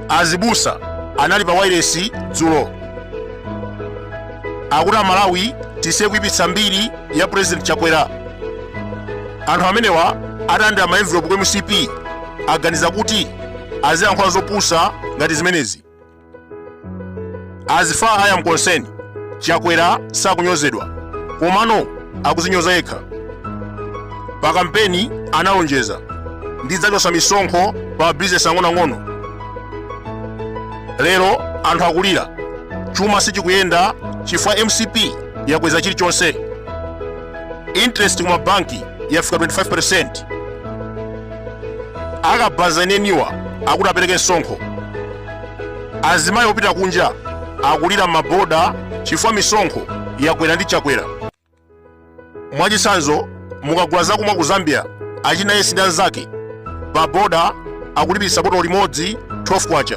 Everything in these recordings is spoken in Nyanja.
azibusa anali pa wailesi dzulo akuti amalawi tisiye kuipitsa mbiri ya president chakwera anthu amenewa adalandira ma envelopu ku mcp aganiza kuti aziyankhula zopusa ngati zimenezi as far as i am concerned chakwera sakunyozedwa komano akuzinyoza yekha pa kampeni analonjeza ndidzachotsa misonkho pa bizinesi ang'onoang'ono lero anthu akulira chuma sichikuyenda chifukwa mcp yakweza chilichonse interest ku mabanki yafika 25 akabaza eneniwa akuti apereke msonkho azimayi opita kunja akulira maboda chifukwa misonkho yakwera ndi chakwera mwachitsanzo mukagula zakumwa ku zambia achina yesi ndi anzake pa boda akulipiritsa botolo limodzi 12 kwacha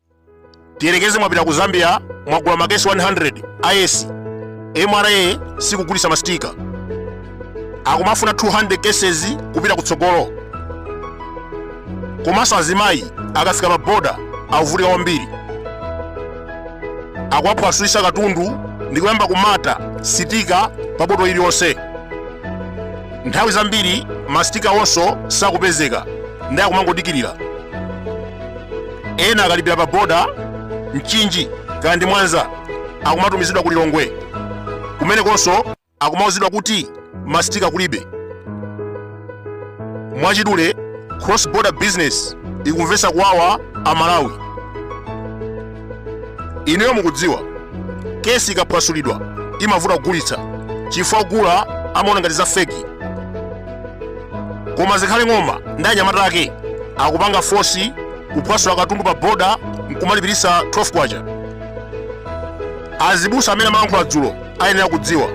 tiyerekeze mwapita ku zambia mwagula makesi 100 ayesi mra sikugulitsa masitika akumafuna 200 cases kupita kutsogolo komanso azimayi akafika ma boda akuvutika kwambiri akuwaphwasulitsa katundu ndi kuyamba kumata sitika pa botolo iliyonse nthawi zambiri masitika onso sakupezeka ndiye akumangodikirira ena akalipira pa boda mchinji kaya ndi mwanza akumatumizidwa ku lilongwe kumenekonso akumauzidwa kuti mastika kulibe mwachidule cross border business ikumvetsa kuwawa amalawi ineyo mukudziwa kesi ikaphwasulidwa imavuta kugulitsa chifukwa ogula amaona ngati za feki koma zikhale ng'oma ndi anyamata ake akupanga fosi kuphwasula katundu pa boda nkumalipiritsa 12 kwacha azibusa amene amayankhula dzulo ayenera kudziwa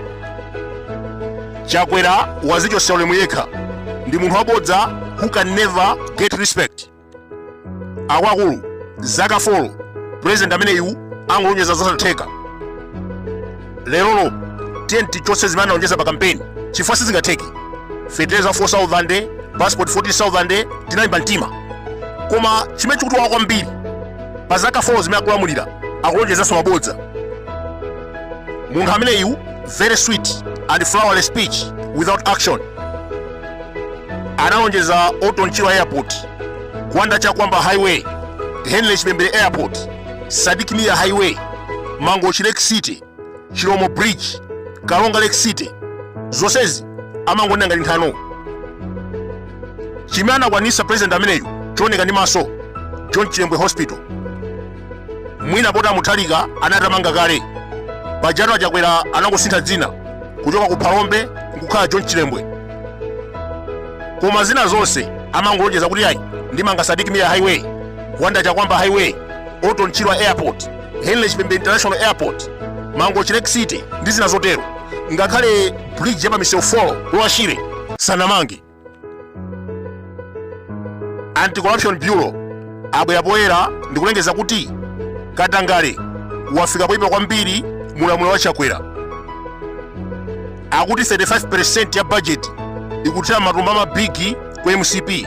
chakwera wazichotsera ulemu yekha ndi munthu wabodza who can never get respect akuluakulu zaka 4 president ameneyu angolonjeza zosatheka lerolo tiye tichotse zimene analonjeza pa kampeni chifukwa sizingatheke feteleza 4000 passport 14000 tinalimba mtima koma chimene chikutiwawa kwambiri pa zaka 4 zimene akulamulira akulonjezanso mabodza munthu ameneyu very sweet and flawless speech without action analonjeza Orton Chirwa Airport, Gwanda Chakwamba Highway, Henry Chipembere Airport, Sadik Mia Highway, Mangochi Lake City, Chiromo Bridge, Karonga Lake City. Zonsezi amangonena ngati nthano. Chimene anakwanisa president ameneyu chooneka ndi maso John Chilembwe Hospital. mwina poti amuthalika anatamanga kale pajatu a chakwera anangosintha dzina kuchoka ku phalombe nkukhala john chilembwe koma zina zonse amangolonjeza kuti ayi ndimanga sadik mia highway gwanda chakwamba highway orton chirwa airport henry chipembere international airport mangochi lake city ndi zina zotero ngakhale bridge ya pa mseu wa lower shire sanamange anti-corruption bureau abwera poyera ndikulengeza kuti katangale wafika poyipa kwambiri mu ulamuliro wa chakwera akuti 35% ya bajeti ikuthera m'matumba a mabigi ku mcp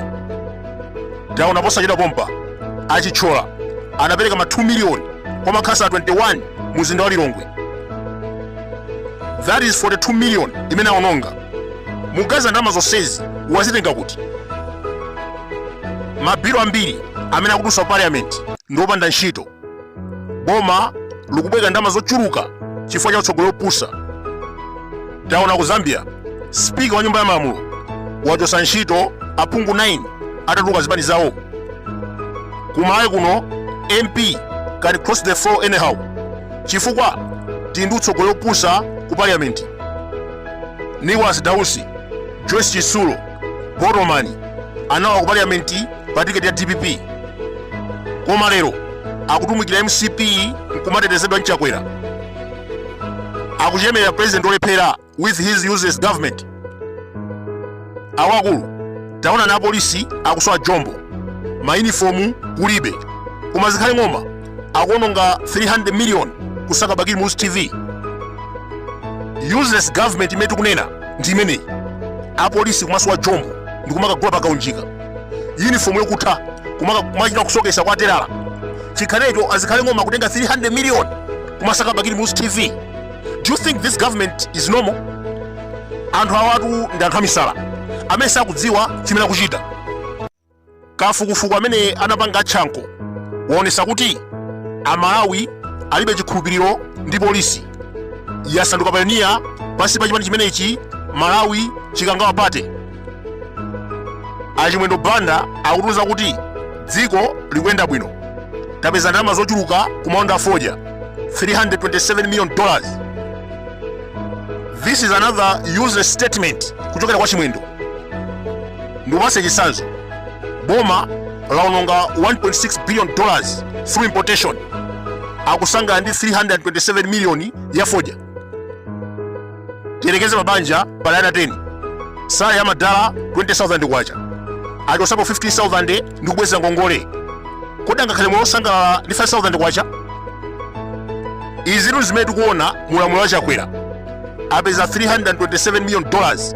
taona posachedwa pompa a chithyola anapereka ma 2 miliyoni kwa makhansala 21 mu mzinda wa lilongwe that is 42 million imene aononga mukaziona ndalama zonsezi wazitenga kuti mabilo ambiri amene akudutsa ku parliament ndi opanda ntchito boma likubwereka ndalama zochuluka chifukwa cha utsogoleri opusa taona ku zambia spika wa nyumba ya malamulo wachotsa ntchito aphungu 9 atatuluka zipani zawo ku malawi kuno mp can cross the floor anyhow chifukwa tili ndi utsogoleri opusa ku parliament nicholas dausi joyce chitsulo botomani analowa ku parliamenti pa tiketi ya dpp koma lero akutumikira mcp nkumatetezedwa nchakwera akuchemerera president olephera with his useless government awakulu taona na apolisi akusowa jombo mayunifomu kulibe koma zikhale ng'oma akuononga 300 million kusaka bakili muluzi tv useless government imene tikunena ndi imeneyi apolisi kumasowa jombo ndikumakagula pakaunjika uniform yokutha kumachita kusokesa kwa telala chikhalecho a zikhale ng'oma kutenga 300 million kumasaka bakili muluzi tv do you think this government is normal anthu awatu ndi anthu amisala amene sakudziwa chimene akuchita kafukufuku amene anapanga atchankho waonesa kuti amalawi alibe chikhulupiriro ndi polisi yasanduka payoniya pansi pa chipani chimenechi malawi chikangawa pate a chimwendo banda akutiuza kuti dziko likuyenda bwino tapeza ndalama zochuluka ku maoda a fodya 327 million dollars this is another useless statement kuchokera kwa chimwendo Ndikupatse chitsanzo. Boma lawononga 1.6 billion dollars through importation. Akusangala ndi 327 million ya fodya. Tiyerekeze pa banja pali ana 10. Salary ya madala 20,000 kwacha. Achosapo 15,000 ndi kubwezera ngongole. Kodi angakhale moyo wosangalala ndi 5,000 kwacha? Izitu zimene tikuona mu ulamuliro wa Chakwera. Apeza 327 million dollars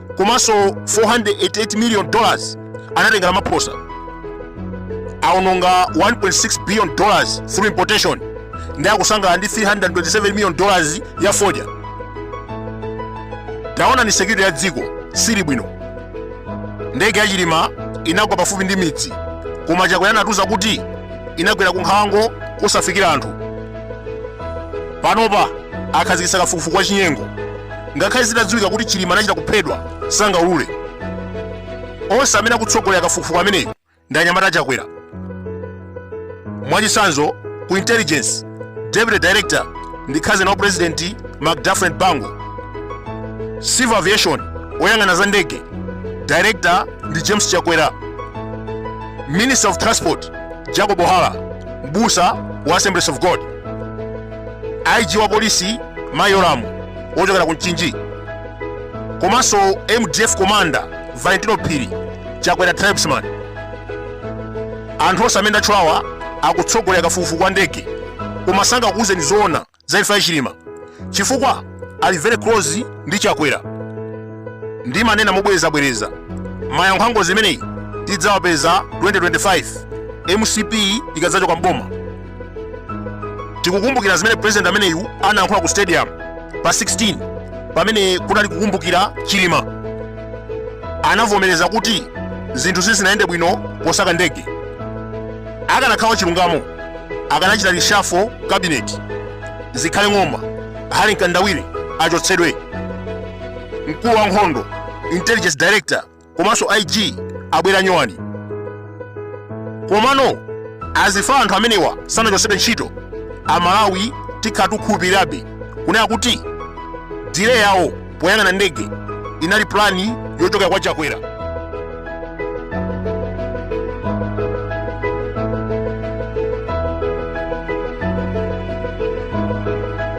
komanso 488 million dollars anatenga a ramaphosa awononga 1.6 billion dollars through importation ndi akusangala ndi 327 million dollars ya fodya taonani security ya dziko siili bwino ndege ya chilima inagwa pafupi ndi midzi koma chakwera anatiuza kuti inagwera ku nkhalango kosafikira anthu panopa akhazikitsa kafukufuku wa chinyengo ngakhale zitadziwika kuti chilima anachita kuphedwa sangaulule onse amene akutsogolera kafukufuku ameneyu ndi anyamata achakwera mwachitsanzo ku intelligence deputy director ndi cousin wa president mcdafren bango civil aviation woyang'ana za ndege director ndi james chakwera minister of transport jacob hara mbusa wa assemblies of god ig wa polisi mai yolamu wochokera ku mchinji komanso mdf commander valentino phiri chakwera tribesman anthu onse amene ndatchulawa akutsogolera kafukufuku wa ndege koma sangakuuzeni zoona za imfa ya chilima chifukwa ali very close ndi chakwera ndimanena mobwerezabwereza mayankho a ngozi imeneyi tidzawapeza 2025 mcp ikadzachoka m'boma tikukumbukira zimene president ameneyu anayankhula ku stadium pa 16 pamene kunali kukumbukira chilima anavomereza kuti zinthu sizinayende bwino posaka ndege akanakhala wa chilungamo akanachita reshuffle cabinet zikhale ng'oma harry mkandawire achotsedwe mkulu wa nkhondo intelligence director komanso ig abwera nyowani komano as far anthu amenewa sanachotsedwe ntchito amalawi tikhala tikukhulupirirabe kunena kuti delay yawo poyang'ana ndege inali plani yochokera kwa chakwera